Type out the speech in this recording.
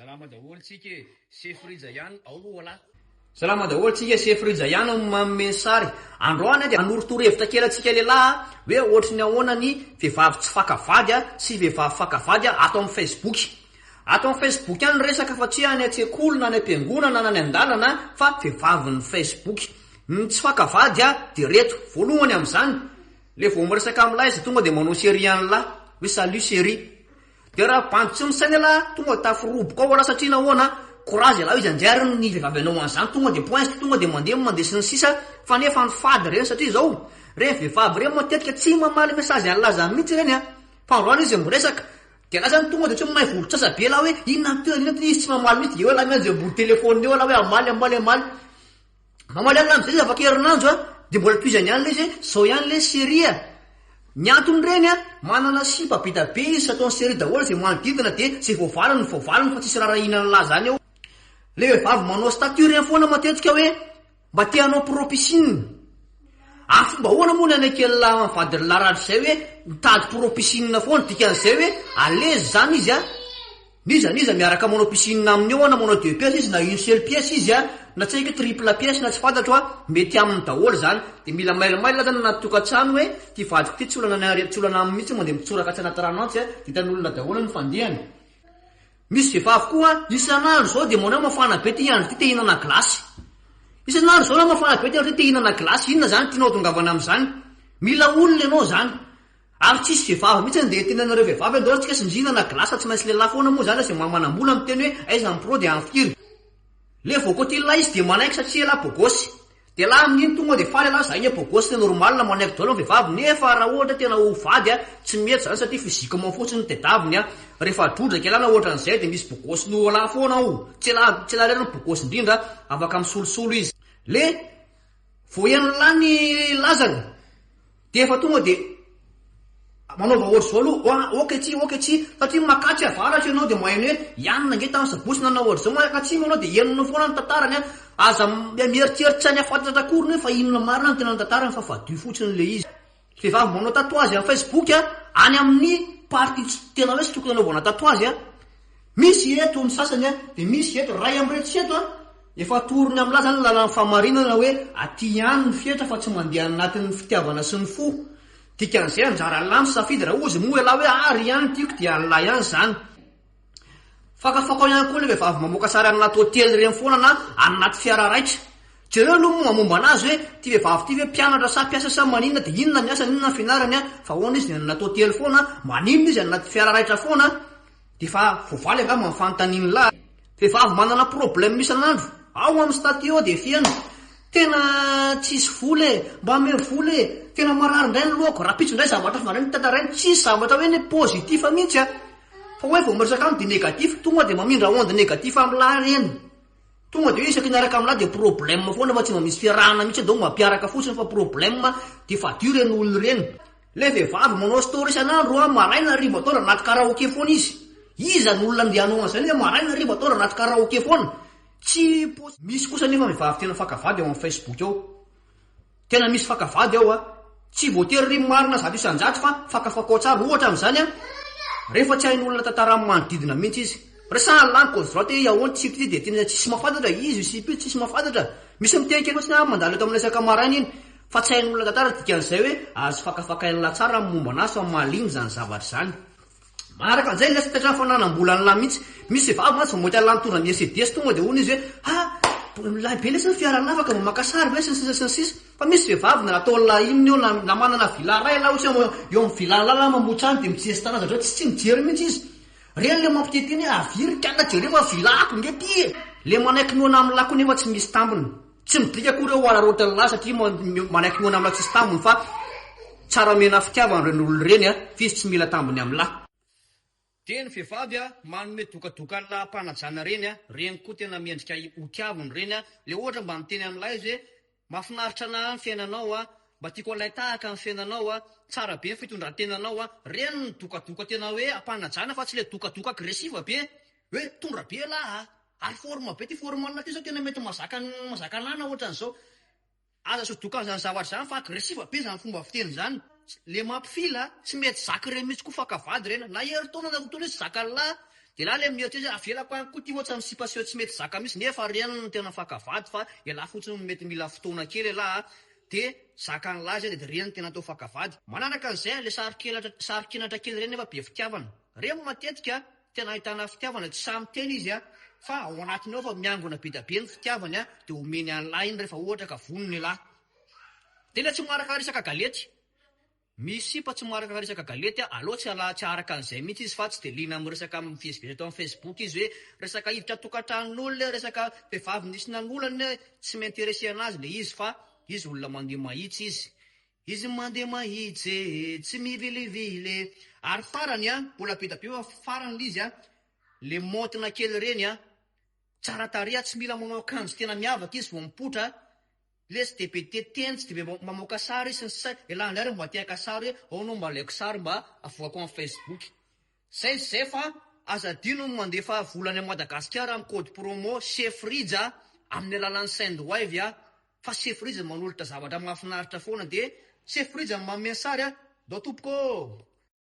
Salama daholo tsika e! Sefo Rija ihany ao oa la. Salama daholo tsika e! Sefo Rija ihany ao no manome ny sary. Androany dia hanoro torohevitra kely antsika lehilahy a! Hoe ohatry ny ahoana ny vehivavy tsy faka vady a! sy vehivavy faka vady a! ato amin'ny Facebook. Ato amin'ny Facebook ihany ny resaka fa tsy hoe any an-tsekoly na any am-piangonana na any an-dalana a! fa vehivavin'ny Facebook. Ny tsy faka vady a! dia reto. Voalohany amin'izany, le vao miresaka amin'ny lahy izy tonga dia manao serie an'la. Hoe salut chérie. Dia raha bandy tsy misaina elah tonga tafo roboka ao elah satria nahoana? Courage elah iza ndray ary ny vehivavy anao an'izany tonga dia poinst tonga dia mandeha mandeha sy ny sisa fa nefa ny fady ireny satria izao ireny vehivavy ireny matetika tsy mamaly message an'laza mihitsy ireny an! fa androany izy miresaka dia elah zany tonga dia tsy mahay vorontsasa be elah hoe inona ny tenany inona ny tenany izy tsy mamaly mihitsy dia eo elah miandry ambony telephone eo elah hoe hamaly hamaly hamaly Mamaly an'i Lamozay izy afaka herinandro a! Dia mbola tohizany ihany ilay izy hoe izao ihany ilay série a! Ny antony reny a, manana sipa be dia be izy sy ataony série daholo izay manodidina dia izay voavaliny no voavaliny fa tsisy raharahiana an'la zany eo. Ilay vehivavy manao statut ireny foana matetika hoe mba te hanao pro piscine. Ary fomba ahoana moa ny haneken'la vadin'la Ratra izay hoe mitady pro piscine foana? Dikan'izay hoe à l'aise izany izy a! N'iza n'iza miaraka manao piscine aminy eo na manao deux pièces izy na une seule pièce izy a, na tsy haiko triple pièce na tsy fantatro a, mety aminy daholo zany, de mila mail mail zany anaty tokatrano hoe ty vadiko ty tsy olana ny aretina tsy olana aminy mintsy moa de mitsoraka atsy anaty rano atsy a, de hitan'olona daholo ny fandehany. Misy vehivavy koa isan'andro zao de manao hoe mafana be ty andro ty te hinana glace, isan'andro zao na mafana be ty andro ty te hinana glace, inona zany tianao atongavana amizany? Mila olona ianao zany, Ary tsisy vehivavy mihitsy andeha hiteny anareo vehivavy andao antsika sinzina na glace tsy maintsy lehilahy foana moa zany izay maha manambola miteny hoe aiza ny pro dia any firy le vao côté lehilahy izy dia manaiky satria elah beau gosse dia lahy amin'iny tonga dia faly elah zay anie beau gosse normal manaiky daolo ny vehivavy nefa raha ohatra tena ho vady a tsy mety zany satria physiquement fotsiny no tedaviny a rehefa drondraka elah na ohatran'izay dia misy beau gosse noho elah foana ao tsy elah tsy elah irery no beau gosse indrindra afaka misolosolo izy le Vao henon'lah ny lazany dia efa tonga dia manaova ohatr'izao aloha, oa, ok ity, ok ity, satria makatry avaratra ianao dia mahay ny hoe ianona ange tamin'ny sabosy nanao ohatr'izao, aka atsimo ianao dia henonao foana ny tantarany an, aza mieritreritra ny hahafantatr'akory ny hoe fa inona marina no tena ny tantarany fa fadio fotsiny ilay izy. Vehivavy mba manao tatouage am facebook a, any amin'ny partie tsy tena hoe tsy tokony anaovana tatouage a. Misy eto ny sasany a, dia misy eto, ray amin'ireo tsy eto a, efa atorony amin'lah zany ny lalan'ny fahamarinana hoe aty ihany ny fetra fa tsy mandeha any anatin'ny fitiavana sy ny fo. Dikan'izay anjaran'lah ny safidy raha ozy moa ialahy hoe ah ry ihany ny tiako dia an'lah ihany zany. Fakafakao ihany koa le vehivavy mamoaka sary anaty hotely ireny foana na any anaty fiara raitra. Jereo aloha moa momba anazy hoe ity vehivavy ity ve mpianatra sa mpiasa sa maninona dia inona ny asany inona ny fianarany an? fa ahoana izy ny any anaty hotely foana? maninona izy any anaty fiara raitra foana? dia efa voavaly angamba ny fanontanian'ny lahy. Vehivavy manana problème isan'andro, ao amin'ny statut ao dia feno, tena tsisy vola e, mba ame vola e, tena marary indray ny lohako, rahampitso indray zavatra hafa indray no tantarainy, tsisy zavatra hoe ny positif mihitsy an! Fa hoe vao miresaka aminy dia négatif, tonga dia mamindra onde négatif am lahy ireny. Tonga dia hoe isaky ny araka am lahy dia problème foana fa tsy mba misy fiarahana mihitsy eo donc mampiaraka fotsiny fa problème dia fadio ireny olona ireny. Ilay vehivavy manao story isan'andro an, maraina hariva atoandro anaty karaoke foana izy. Iza no olona andeha hanao an'izany hoe maraina hariva atoandro anaty karaoke foana? Tsy possible. Misy kosa anefa vehivavy tena faka vady eo am facebook eo. Tena misy faka vady ao a! Tsy voatery ry marina zato isan-jato fa fakafakao tsara ohatra amin'izany a! Rehefa tsy hain'olona tantara manodidina mihitsy izy. Resahan'i Langue Gauche Droite hoe Yao ny sipe ity dia tena tsisy mahafantatra, izy io sipe io tsisy mahafantatra. Misy miteny kely fotsiny a, mandalo eto aminay isaka maraina iny. Fa tsy hain'olona tantara dikan'izay hoe azo fakafakain'lah tsara amin'ny momba an'asa, malemy izany zavatra izany. Manaraka an'izay ilay sokatra ny fananam-bola an'lah mihitsy. Misy vehivavy mantsy vao mamoaka an'lah mitondra ny Mercedes tonga dia hono izy hoe ha! Mbola milay be lesy ny fiaranavaka vao maka sary ve sy ny sisa sy ny sisa. Fa misy vehivavy na nataon'lah inona eo na na manana villa iray ialahy ohatra hoe eo amin'ny villa-n'lah ialahy mamotra any dia mi-gestana zareo tsy tsy mijery mihitsy izy. Ireny ilay mampiteny teny hoe aviriky ana jereo fa villa-ko nge ity e! Ilay manaiky noana amin'lah koa nefa tsy misy tambiny. Tsy midika akory hoe ho araraotin'ny lahy satria manaiky mihaona amina tsisy tambiny fa tsara omena fitiavana ireny olona ireny a! f'izy tsy mila tambiny amin'ny lahy. Dia ny vehivavy a! manome dokadokan'la ampanajana ireny a! ireny koa tena mendrika ho tiaviny ireny a! le ohatra mba miteny amin'ny lahy izy hoe mafinaritra anah ny fiainanao a! mba tiako halay tahaka ny fiainanao a! tsara be ny fitondrantenanao a! ireny no dokadoka tena hoe ampanajana fa tsy le dokadoka agresiva be Hoe mitondra be elah a! Ary forme be ty formal ty zao tena mety mazaka mazaka anana ohatran'izao. Aza sodoka zany zavatra zany fa agressive be zany fomba fiteny zany. Le mampifila a! Tsy mety zaka ireny mihitsy koa faka vady ireny a! Na herintaona na roa taona izy tsy zakan'lah de lah le mieritreritra hoe avelako any koa ty ohatra ny sipa seho tsy mety zaka mihitsy nefa ireny no tena faka vady fa elah fotsiny no mety mila fotoana kely elah a! de zakan'lah zay de ireny no tena atao faka vady. Manaraka an'izay a! le sarokelatra sarokenatra kely ireny nefa be fitiavana ireny matetika. Tena ahitana fitiavana tsy sahy miteny izy a! fa ao anatiny ao efa miangona be dia be ny fitiavany a! dia omeny an'lah iny rehefa ohatra ka vonona ilah! Tena tsy maharakara isaka galety! misy sipa tsy maharakara isaka galety a! aleo tsy ala tsy aharaka an'izay mihitsy izy fa tsy dia liana amin'ny resaka mivezivezy eto amin'ny facebook izy hoe resaka hiditra tokantranon'olona resaka vehivavy nisy nanolana tsy mi-interesser anazy ilay izy fa izy olona mandeha mahitsy izy Izy mandeha mahitsy tsy mivilivily e. Ary farany an, mbola be da be fa farany l'izy an, le maontina kely reny an, tsara tarehy tsy mila manao akanjo tena miavaka izy vao mipoitra, le tsy de be tia teny tsy de be mamoaka sary sy ny sisa, elah indray reo mba te haka sary hoe aona mba alaiko sary mba avoakao am facebook. Zay sy zay fa aza adino ny mandefa vola any Madagasikara amin'ny code promo Chef Rija amin'ny alalan'ny Sendwave a! Fa Chef Rija manolotra zavatra mahafinaritra foana dia Chef Rija no manome ny sary a! Ndao tompoko ô!